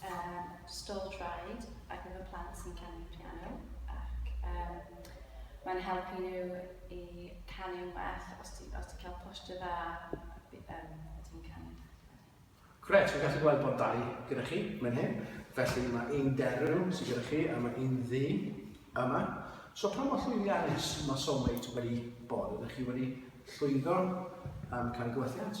Yym, stôl traed ar gyfer plant sy'n canu piano ac yym mae'n helpu nhw i canu'n well os ti'n os ti'n cael posture dda yym pan ti'n canu. Grêt, fi'n gallu gweld bod dau gyda chi mewn hyn, felly mae un derw sydd gyda chi a mae un ddu yma. So pa mor llwyddiannus mae Soulmate wedi bod? Ydych chi wedi llwyddo am cael gwelliant?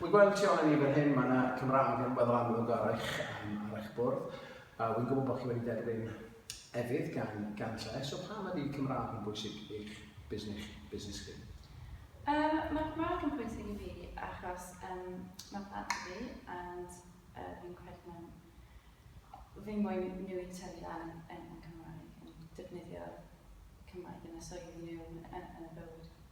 Wi'n gweld tu ôl i ni fan hyn, mae yna Cymraeg yn weddol amlwg ar eich, um, ar eich bwrdd. Uh, wi'n gwybod bod chi wedi derbyn efydd gan, gan lle, so pam ydy Cymraeg yn bwysig i'ch busnes, busnes chi? Um, mae Cymraeg yn bwysig i fi achos um, mae plant i fi and uh, fi'n credu mewn fi moyn nhw i tyfu lan yn, yn Cymraeg, yn defnyddio Cymraeg yn y swydd nhw yn, yn y bywyd.